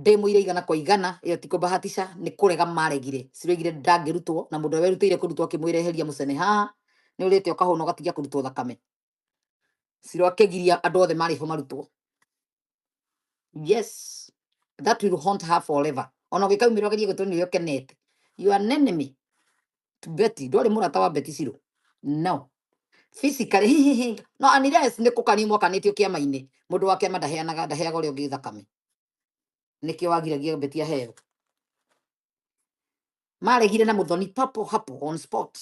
ndĩmũire igana kwa igana ĩyo ti kũmbahatisha nĩ kũrega maregire ciroigire ndangĩrutwo na mũndũ ũrĩa werutĩire kũrutwo akĩmwĩra eheria mũcene haha nĩ ũrĩte ũkahũna ũgatigia kũrutwo thakame ciro akĩgiria andũ othe marĩ ho marutwo yes that will haunt her forever ona ũngĩkaumĩra ũgerie gwĩtwo nĩ ũrĩa ũkenete you are an enemy Betty ndwarĩ mũrata wa Betty Shiro no physically hi hi hi no unless nĩ kũkanio mwakanĩtio kĩama-inĩ mũndũ wa kĩama ndaheanaga ndaheaga ũrĩa ũngĩ thakame nĩkĩo wagiragia Betty aheo maregire na mũthoni papo hapo on spot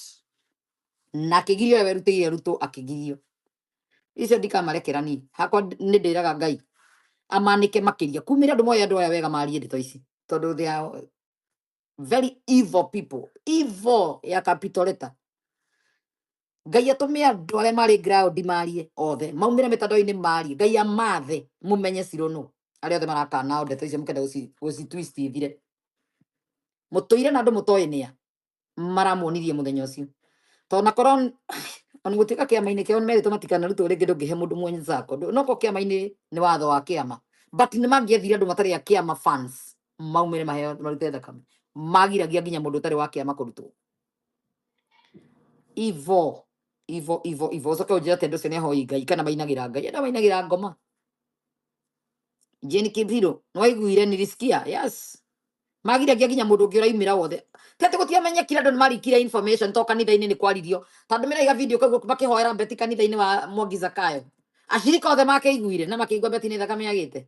na akĩgirio ũrĩa werutĩire rutwo akĩgirio icio ndikamarekera niĩ hakwa ndi- nĩ ndĩraga ngai amanĩke makĩria kumĩra andũ moya andũ aya wega marie ndeto ici tondũ they are very evil people evil ya capital letter ngai atũme andũ arĩa marĩ ground marie othe maumĩre mĩtandao-inĩ marie ngai amathe mũmenye cirũ nũ arĩa othe marakana ndeto icio mũkenda gũci gũci twist ithire mũtũire na andũ mũtoĩ nĩa maramuonirie mũthenya ũcio tondũ nakorwo ona gũtuĩka kĩama-inĩ kĩao nĩ merĩtwo matikanarutwo rĩngĩ ndũngĩhe mũndũ mwenye zako noko kĩama-inĩ nĩ watho wa kĩama but nĩ mangĩethire andũ matarĩ a kĩama fans maumĩre maheo marute thakame magiragia nginya mũndũ ũtarĩ wa kĩama kũrutwo ivo ivo ivo ivo ũcoke ũnjĩra atĩ andũ ũcio nĩ ahoi ngai kana mainagĩra ngai enda mainagĩra ngoma jeni kibiro nĩ waiguire nirisikia yes magiragia nginya mũndũ ũngĩ ũraimĩra wothe ti atĩ gũtiamenyekire andũ nĩ marikire information to kanitha-inĩ nĩ kwaririo tondũ mĩra iga video kau makĩhoera mbeti kanitha-inĩ wa mwangi zakayo acirika othe makĩiguire na makĩigua mbeti nĩ thakame yagĩte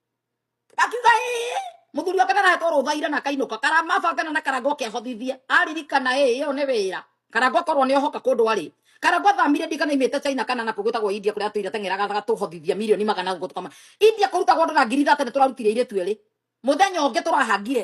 akiuga ĩĩ mũthuri wake narahetwo rũtha ira na akainũka karamabangana na karangwa ũkĩabotithia aririkana ĩĩ ĩyo nĩ wĩra karangwa korwo nĩ ohoka kũndũ arĩ karangwa thamire ndia kana imĩte china kana na kũgwĩtagwo india kũrĩa atũire teng'eraga agatũhothithia milioni magana gũkũ tũkama india kũrutagwo andũ na ngiri thate nĩ tũrarutire irĩtu erĩ mũthenya ũngĩ tũrahangire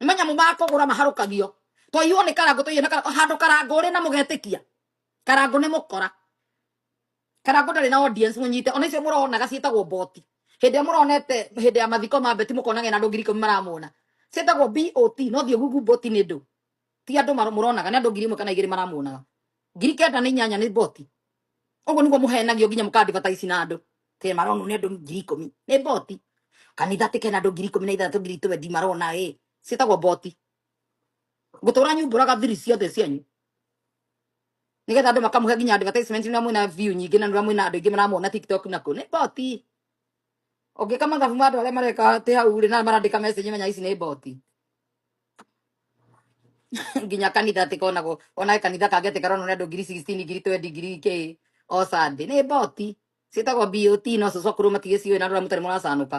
nĩ manyamũ ma kũgũra maharũkagio twaiywo nĩ karangũ tũiywo nĩ karangũ handũ karangũ ũrĩ na mũgetĩkia karangũ nĩ mũkora karangũ ndarĩ na audience mũnyite ona icio mũronaga ciĩtagwo boti hĩndĩ ĩrĩa mũronete hĩndĩ ya mathiko ma beti mũkonaga ena andũ ngiri ikũmi maramuona ciĩtagwo bot no thiĩ google boti nĩ ndũ ti andũ maro- mũronaga nĩ andũ ngiri ĩmwe kana igĩrĩ maramuonaga ngiri kenda nĩ inyanya nĩ boti Ũguo nĩguo mũhenagio nginya mũkandibataci na andũ. Tena maronwo nĩ andũ ngiri ikũmi. Nĩ mboti. Kanitha atĩ kena andũ ngiri ikũmi na ithathatũ ngiri twendi marona ĩ. Ciĩtagwo mboti. Ngũtũra nyumbũraga thiri ciothe cianyu. Nĩgetha andũ makamũhe nginya advertisement na mwĩna view nyingĩ na nĩũrĩa mwĩna andũ aingĩ maramuona TikTok na kũ. Nĩ mboti. Ũngĩka mathabu ma andũ arĩa mareka atĩ hau rĩ na marandĩka message menya ici nĩ mboti. Nginya kanitha atĩ konagwo ona he kanitha kangĩ atĩ karonwo nĩ andũ ngiri 16 ngiri 20 ngiri kĩ o Sunday. Nĩ mboti. Ciĩtagwo BOT no cũcũ akũrũ matigĩciũĩ na andũ arĩa mũtarĩ mũracanũka.